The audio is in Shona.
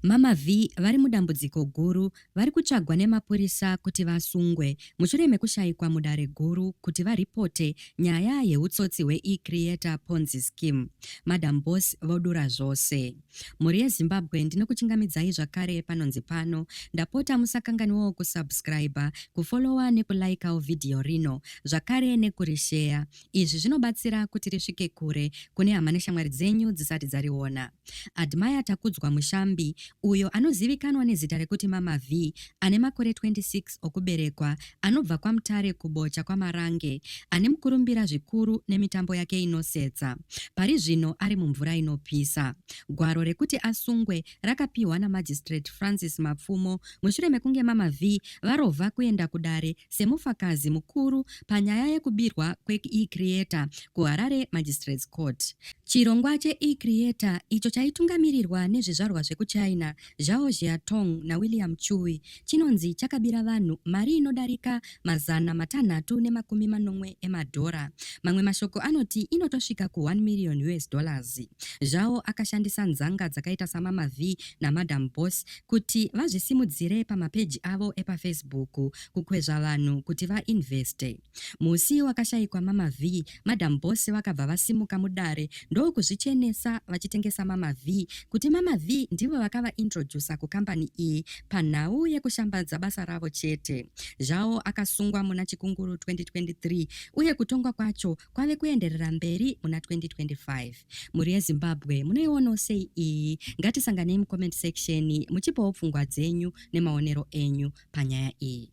Mama Vee vari mudambudziko guru vari kutsvagwa nemapurisa kuti vasungwe mushure mekushaikwa mudare guru kuti varipote nyaya yeutsotsi hweeCreator Ponzi Scheme. Madam Boss vodura zvose. Mhuri yeZimbabwe ndinokuchingamidzai zvakare panonzi pano. Ndapota musakanganiwawo kusubscriber, kufollower nekulikawo vhidhiyo rino zvakare nekurisheya. Izvi zvinobatsira kuti risvike kure kune hama neshamwari dzenyu dzisati dzariona. Admire Takudzwa Mushambi, uyo anozivikanwa nezita rekuti Mama Vee, ane makore 26 okuberekwa, anobva kwaMutare kuBocha kwaMarange, ane mukurumbira zvikuru nemitambo yake inosetsa. Pari zvino ari mumvura inopisa. Gwaro rekuti asungwe rakapiwa naMagistrate Francis Mapfumo mushure mekunge Mama Vee varova kuenda kudare semufakazi mukuru panyaya yekubirwa kweeCreator kuHarare Magistrates Court. Chirongwa cheeCreator, icho chaitungamirirwa nezvizvarwa zvekuChina, Zhao Jiatong naWilliam Chui, chinonzi chakabira vanhu mari inodarika mazana matanhatu nemakumi manomwe emadhora. Mamwe mashoko anoti inotosvika ku1 million us dollars. Zhao akashandisa nzanga dzakaita saMama Vee naMadam Boss kuti vazvisimudzire pamapeji avo epaFacebook kukwezva vanhu kuti vainveste. Musi wakashaikwa Mama Vee, Madam Boss vakabva vasimuka mudare ndokuzvichenesa vachitengesa Mama Vee kuti Mama Vee ndivo vakavaintroducer kukambani iyi panhau yekushambadza basa ravo chete. Zhao akasungwa muna Chikunguru 2023 uye kutongwa kwacho kwave kuenderera mberi muna 2025. Mhuri yeZimbabwe munoionawo sei iyi? Ngatisanganei mucomment section muchipawo pfungwa dzenyu nemaonero enyu panyaya iyi.